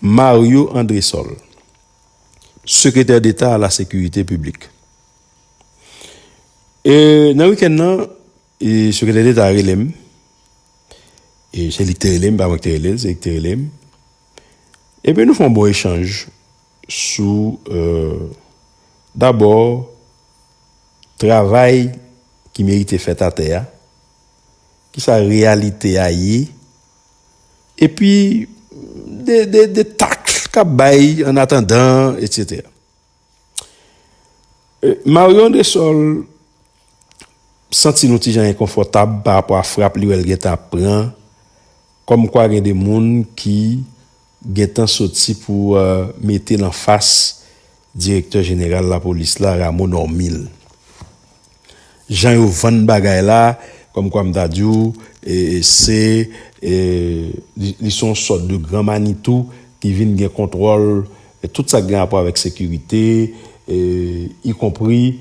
Mario Andresol, Sekretè Deta a la Sekirite Piblik. E nan wikenn nan, Sekretè Deta a rele m, e se li ki te rele m, pa mwen ki te rele l, se li ki te rele m, epi nou fè yon bon echanj sou dabò travay ki merite fèt atè a, ki sa reyalite a ye. epi de taks k ap bay an atandan etsetera. Mario Andresol santi yon ti jan enkonfòtab pa rapò a frap li wè l gentan ap pran kòmkwa gen de moun ki gentan soti pou mete l anfas direktè jeneral lapolis la Rameau Normil. Jan yo vann bagay la kòmkwa m ta di w se li se yon sòt de gran manitou ki vin gen kontwòl tout sa k gen rapò avèk sekirite ikonpri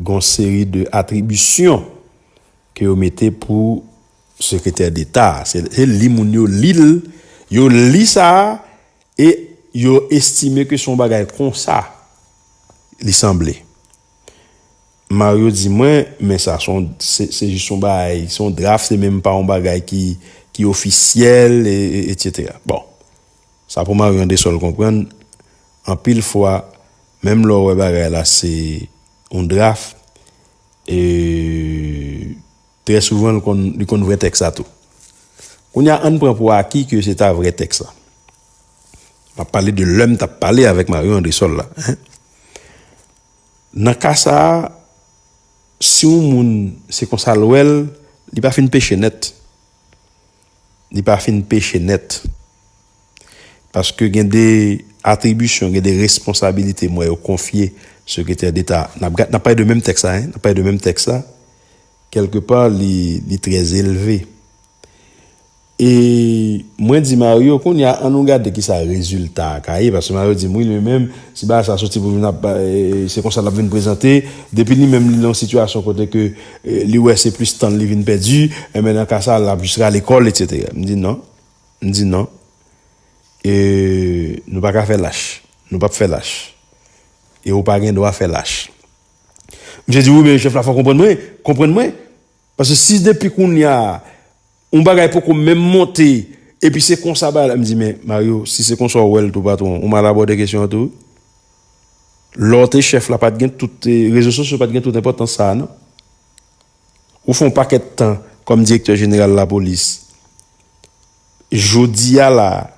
gon seri de atribisyon ke yo mete pou sekretè deta a, se li moun yo li l, yo li sa a e yo estime ke se yon bagay konsa li sanble. Mario di mwen, men sa son, se jis yon bagay, se yon draf, se menm pa yon bagay ki ofisyèl, etc. Bon. Sa pou Marion de Sol konprann, anpil fwa menm lè w wè bagay la se yon draft, trè souvan li konn vrè tèks la tou. Kounye a, ann pran pou aki ke se ta vrè tèks la. M ap pale de lè m t ap pale avèk Marion Andrésol la. Nan ka sa a, si yon moun se konsa l wè l, li pa fin peche nèt. li pa fin peche nèt. Paske gen de atribisyon, gen de responsabilite m wè yo konfye Sekretè Deta a. N ap gad, n ap pale de menm tèks la, n ap pale de menm tèks la, kèlke pa li trè elve. E mwen di Mario, kounye a an nou gade ki sa rezilta a ka ye, paske Mario di m, wi li menm, si bagay sa a soti pou vin ap, se konsa l ap vin prezante, depi li menm li nan yon sitiyasyon kote ke, Li wè se plis tan li vin pèdi, enben nan ka sa lap jis rale kòl etc. M di non, m di non, e nou pa ka fè lach, nou pap fè lach, e ou pa gen dwa fè lach. Misye di wi men chèf la fò konprann mwen, konprann mwen, paske si depi kounya. Yon bagay poko menm monte epi se konsa bagay la m di men Mario si se konsa w wè l tou patwon ou mal abòde kesyon an tou wi. Lè w te chèf la pa t gen tout rezo sosyo pa t gen tout enpòtans sa a non. Ou fè yon pakèt tan kòm direktè jeneral lapolis. Jodi a la a,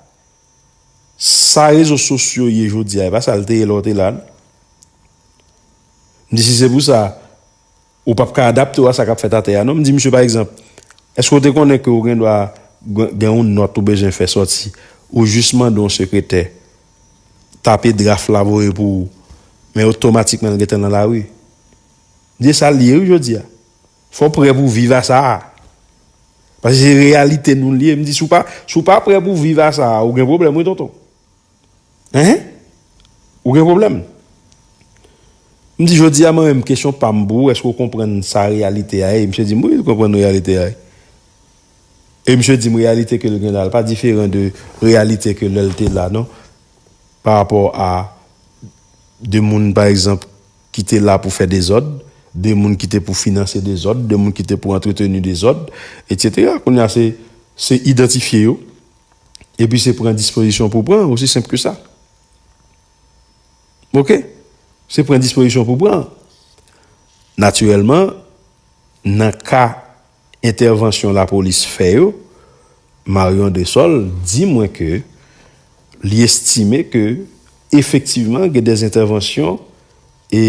sa rezo sosyo ye jodi a e pa sa l te ye lè w te la non. M di si se pou sa. Ou pap ka adapte w a sa k ap fèt atè a non. M di misye pa egzanp, Èske w te konnen ke ou gendwa gen yon nòt ou bezwen fè sòti? Ou jis mande yon sekretè tape draf la voye pou ou, men otomatikman l gentan nan lari. M di e sa l ye wi jodi a. Fò w prè pou w viv a sa a. Paske se reyalite nou l ye. M di si w pa prè pou w viv a sa a, ou gen pwoblèm wi tonton. Hein? Ou gen pwoblèm? M di jodi a mwen menm kesyon pa m pou ou èske ou konprann sa reyalite a ye? Misye di m wi m konprann reyalite a ye. E misye di m reyalite ke l gen la l pa diferan de reyalite ke lè l te la non. Pa rapò a de moun pa egzanp ki te la pou fè dezòd, de moun ki te pou finanse dezòd, de moun ki te pou antreteni dezòd, etc. Kounye a se idantifye yo. epi se pran dispozisyon pou pran osi senp ke sa ok se pran dispozisyon pou pran natirèlman nan ka entèvansyon la polis fè yo Marion de Sol di mwen ke li estime ke efektivman gen de entèvansyon e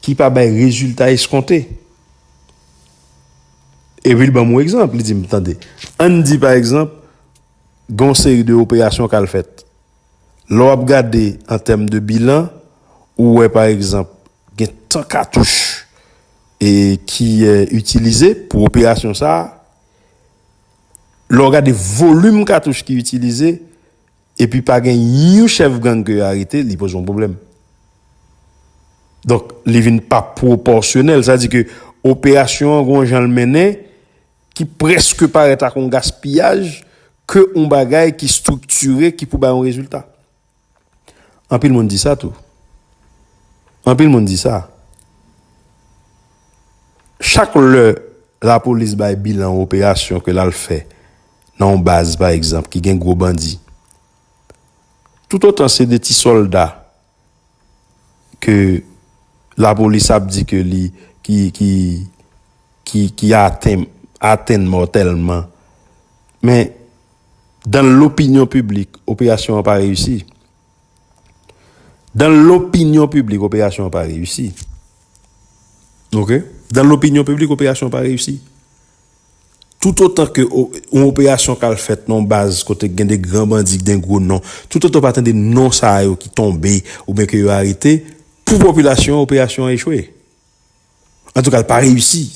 ki pa bay rezilta eskonte. Epi l ban m yon egzanp, li di m, tande, ann di pa egzanp gen yon seri de operasyon k al fèt. Lè w ap gade an tèm de bilan, ou wè pa egzanp gen tan katouch ki itilize pou operasyon sa a. Lè w gade volim katouch ki itilize. Epi pa gen yon chèf gang ke yo arete, li poze yon pwoblèm. Donk, li vin pa pwopòsyonèl. Sa di ke operasyon an gon jan l mennen ki preske parèt ak yon gaspiyaj ke yon bagay ki striktire ki pou bay yon rezilta. Anpil moun di sa tou. Anpil moun di sa. Chak lè lapolis bay bilan yon operasyon ke l al fè, nan yon baz pa egzanp ki gen gwo bandi, toutotan se 2 ti sòlda ke lapolis ap di ke li ki atenn atenn mòtèlman men dan lopinyon piblik operasyon an pa reyisi. Dan lopinyon piblik operasyon an pa reyisi. Ok? Dan lopinyon piblik operasyon an pa reyisi. Toutotan ke yon operasyon k al fèt nan yon baz kote gen de gran bandi, gen gwo non, toutotan w pa tande non sa yo ki tonbe oubyen ke yo arete, pou popilasyon an, operasyon an echwe. Antouka, l pa reyisi.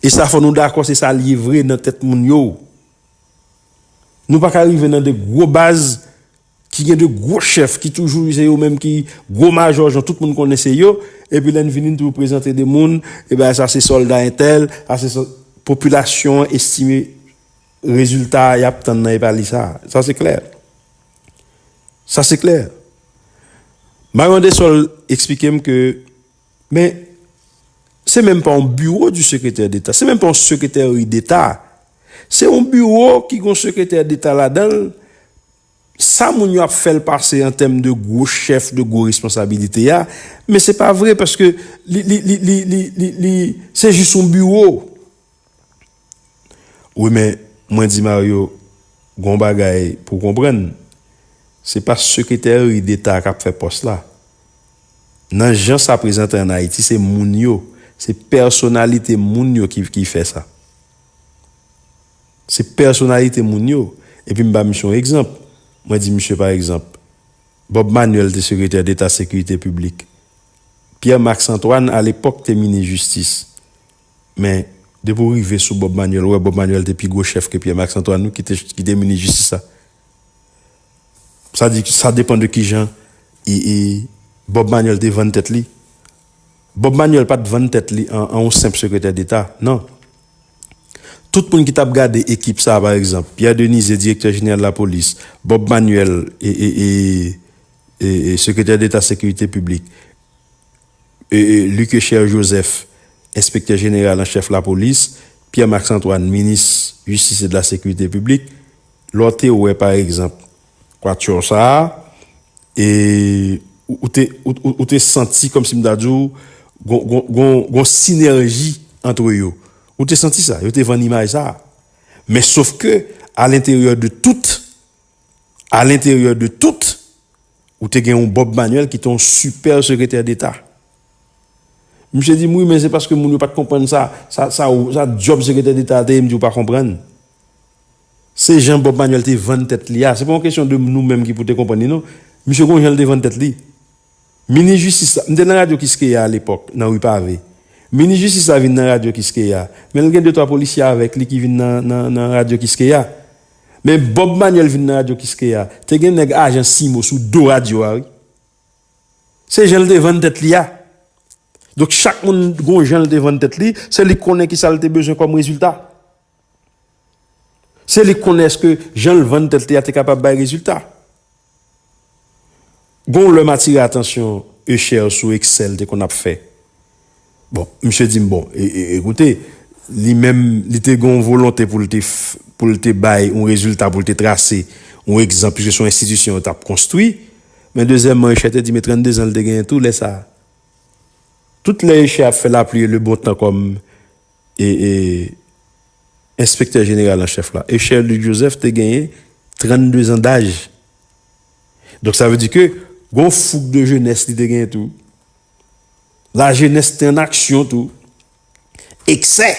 E sa fò nou dakò se sa l ye vre nan tèt moun yo. Nou pa ka rive nan de gwo baz. Ki gen 2 gwo chèf ki toujou se yo menm ki gwo majò jan tout moun konnen se yo, epi lè n vini n toujou prezante 2 moun, e bay sa se sòlda entèl, sa se sòlda. Popilasyon an estime rezilta y ap tann nan e pa li sa. Sa se klè. Sa se klè. Mario Andesol esplike m ke men se menm pa yon biwo di sekretè deta, se menm pa yon sekretèri deta, se yon biwo ki gen yon sekretè deta ladan l Sa moun yo ap fèl pase an tèm de gwo chèf de gwo responsabilite a, men se pa vre paske li li li li li li li se jis yon biwo. Wi men mwen di Mario gen yon bagay pou w konprann se pa sekretèri deta kap fè pòs la. Nan jan sa prezante an Ayiti se moun yo, se pèsonalite moun yo ki fè sa. Se pèsonalite moun yo. Epi m ba misye yon egzanp. Mwen di misye pa egzanp, Bob Manuel te sekretè deta sekirite piblik. Pierre Max Antoine alepòk te minis jistis. Men, depi ou rive sou Bob Manuel, ou wè Bob Manuel te pi gwo chèf ke Pierre Max Antoine wi ki te minis jistis la. Sa di, sa depan de ki jan Bob Manuel te vann tèt li. Bob Manuel pa t vann tèt li an yon senp sekretè deta. Non. Tout moun ki t ap gade ekip sa a pa egzanp, Pierre Denise, direktè jeneral lapolis, Bob Manuel, sekretè deta sekirite piblik, Luckesher Joseph, enspektè jeneral an chèf lapolis, Pierre Max Antoine, minis jistis e de la sekirite piblik, lè w te wè pa egzanp Quatuor sa a e ou te ou te santi kòmsi m ta di w gon gon sinèji antre yo ou te santi sa yo te vann imaj sa men sof ke alenteryè de tout alenteryè de tout ou te gen yon Bob Manuel ki te yon sipè sekretè deta misye di m wi men se paske moun yo pat konprann sa sa sa sa djòb sekretè deta a te ye m di w pa konprann. Se jan Bob Manuel te vann tèt li a, se pa yon kesyon de nou menm ki pou te konprann li non. Misye gon jan li te vann tèt li. Minis jistis la, m te nan radyo Kiskeya alepòk, nan Ri Pave. Minis jistis la vin nan radyo Kiskeya, men l gen de twa polisye avèk li ki vin nan radyo Kiskeya. Men Bob Manuel vin nan radyo Kiskeya, te gen nèg ajan Simo sou do radyo a wi. Se jan li te vann tèt li a. Donk chak moun gon jan li te vann tèt li, se li k konnen ki sa li te bezwen kòm rezilta. Se li k konnen èske jan l vann tèt li a te kapab bay rezilta. Gen yon lè m atire atansyon Usher sou eksè l te konn ap fè. Bon, misye di m, bon, ekoute, li menm, li te gen yon volonte pou l te, pou l te bay yon rezilta, pou l te trase yon egzanp, piske se yon enstitisyon yo t ap konstwi. Men dezyèmman, Usher te di, men 32 zan l te genyen tou lè sa a. Tout lè Usher ap fè lapli e lebontan kòm. E enspektè jeneral an chèf la, Echer Luc Joseph te genyen 32 zan daj. Donk sa vle di ke gon foug de jenès li te genyen tou. La jenès te an aksyon tou. Eksè!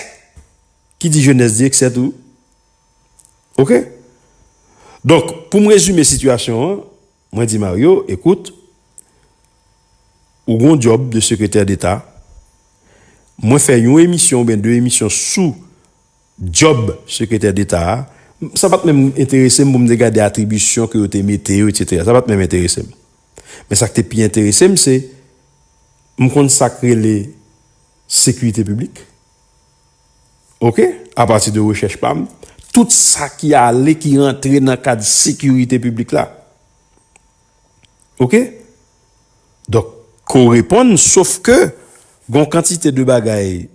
Ki di jenès di eksè tou. Ok? Donk pou m rezime sitiyasyon an. Mwen di Mario, ekout, ou gon djòb de sekretè deta, mwen fè yon emisyon oubyen 2 emisyon sou djòb sekretè deta a, sa pat menm enterese m pou m te gade atribisyon ke yo te mete yo etsetera, sa pat menm enterese m. Men sa k te pi enterese m se, m konn sa k rele sekirite piblik. Ok, apati de rechèch pa m, tout sa ki ale, ki rantre nan kad sekirite piblik la. Ok? Donk, ko reponn, sof ke, gon kantite de bagay,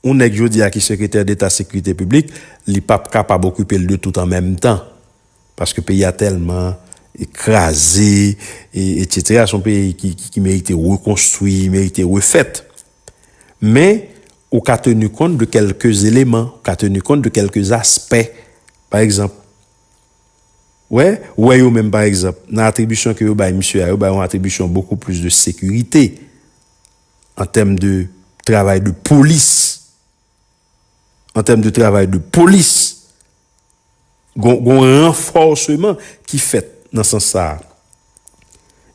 yon nèg jodi a ki sekretè deta sekirite piblik, li pa p kapab okipe l de tout an menm tan. Paske peyi a tèlman kraze, e, etsetera, son peyi ki merite rekonstwi, merite refèt. Men, ou ka tenu kont de kèlke eleman, ou ka tenu kont de kèlke aspè. Pa egzanp, wè, wè yo menm pa egzanp, nan atribisyon ke yo bay misye a, yo bay yon atribisyon bokou plis de sekirite, an tèm de travay de polis. an tèm de travay de polis, gon yon ranfòseman ki fèt nan sans sa a.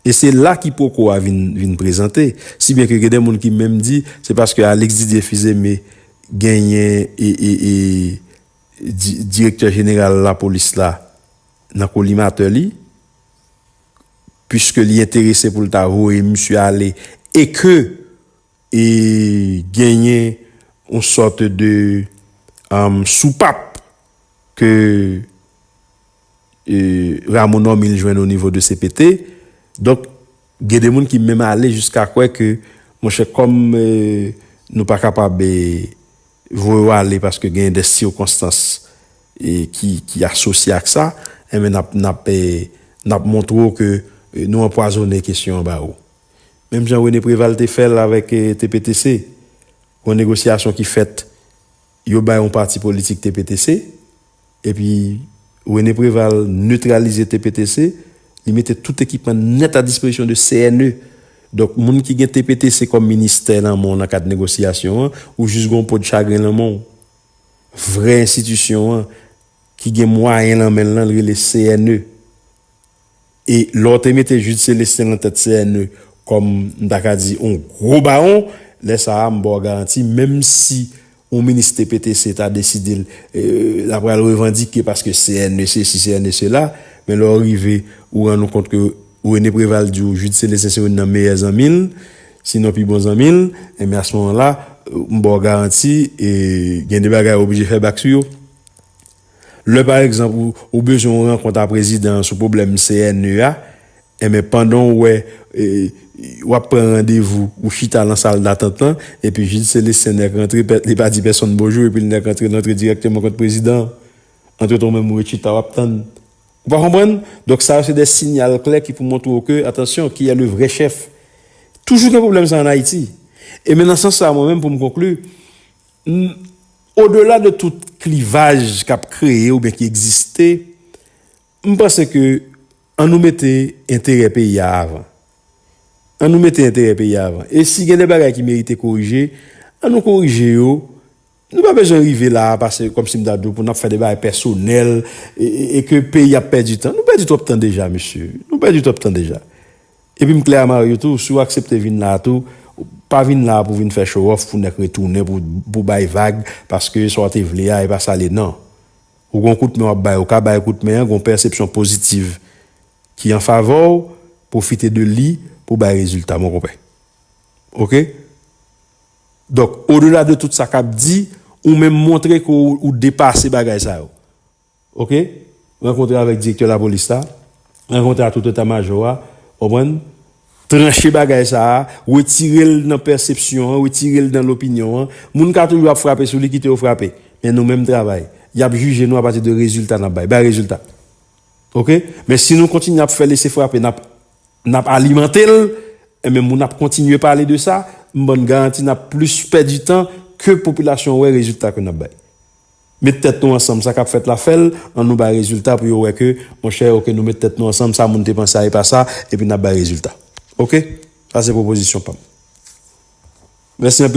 E se la kipoko a vin prezante, si byen ke gen de moun ki menm di, se paske Alix Didier Fils-Aimé genyen direktè jeneral lapolis la nan kolimatè li, puiske li enterese pou l ta voye misye ale, e ke. E genyen yon sòt de soupap ke Rameau Normil jwenn o nivo de cpt. Donk, gen de moun ki menm ale jiska kwè ke, monchè, kòm nou pa kapab voye ou ale paske genyen de sikonstans ki asosye ak sa, enben n ap montre ou ke nou anpwazonnen kesyon an ba ou. menm jan René Préval te fè l avèk TPTC, yon negosyasyon ki fèt, yo bay yon pati politik TPTC, epi René Préval netralize TPTC, li mete tout ekipman nèt a dispozisyon de CNE. Donk, moun ki gen TPTC kòm ministè nan men w nan kad negosyasyon an, ou jis gen yon po de chagren nan men w. Vrè enstitisyon an, ki gen mwayen nan men l lan, li rele CNE. E lè w te mete Jude Celestin lan tèt CNE kòm m ta ka di on gwo bawon, lè sa a m ba w garanti menm si on minis TPTC ta deside l la pral revandike paske CNE sesi CNE sela, men lè w rive ou rann ou kont ke René Préval di w Jude Celestin se youn nan meyè zanmi l, sinon pi bon zanmi l, enben a se moman la m ba w garanti gen de bagay ou oblije fè bak sou yo. Lè pa egzanp ou bezwen yon rankont a prezidan an sou pwoblèm CNE a, enben pandan w wè w ap pran randevou, ou chita lan sal datant lan, epi Jid Selestin nèk rantre, li pa di pèsonn bonjou epi l nèk rantre, l antre dirèkteman kont prezidan an. Antretan ou menm ou ret chita w ap tann. Ou pa konprann? Donk sa yo se de sinyal klè ki pou montre w ke, atansyon, ki è le vrè chèf? Toujou gen pwoblèm sa an Ayiti. E men nan sans sa a mwen menm pou m konkli, N, odela de tout klivaj k ap kreye oubyen ki egziste, m panse ke an nou mete enterè peyi a avan. An nou mete enterè peyi a avan. E si gen de bagay ki merite korije, an nou korije yo. Nou pa bezwen rive la a pase, kòm si m ta di w, pou n ap fè de bagay pèsonèl e ke peyi ap pèdi tan. Nou pèdi twòp tan deja, mesye. Nou pèdi twòp tan deja. Epi m klè a Mario tou, si w aksepte vin la a tou, pa vin la a pou w vin fè show off pou nèk retounen pou w bay vag paske sa w te vle a e pa sa l ye nan. Ou gen yon kout men w ap bay, ou ka bay kout men an, gen yon pèsepsyon pozitiv ki an favè w, pwofite de li pou w bay rezilta mon konpè. Ok? Donk, odela de tout sa k ap di, ou menm montre ke w depase bagay sa yo. Ok rankontre avèk direktè lapolis la rankontre a tout eta majò a konprann tranche bagay sa a retirel nan pèsepsyon an retirel nan lopinyon an moun ka toujou ap frape sou li kite yo frape men nou menm travay yap jije nou apati de rezilta nap bay bay rezilta ok men si nou kontinye ap fè lese frape nap nap alimantel enben moun ap kontinye pale de sa m bann garanti nap plis pèdi tan ke popilasyon wè rezilta ke nap bay Met tèt nou ansanm sa kap fèt la fèl an nou bay rezilta pou yo wè ke monchè ok nou met tèt nou ansanm sa moun te panse a epa sa epi nap bay rezilta ok sa se pwopozisyon pam mèsi anpil.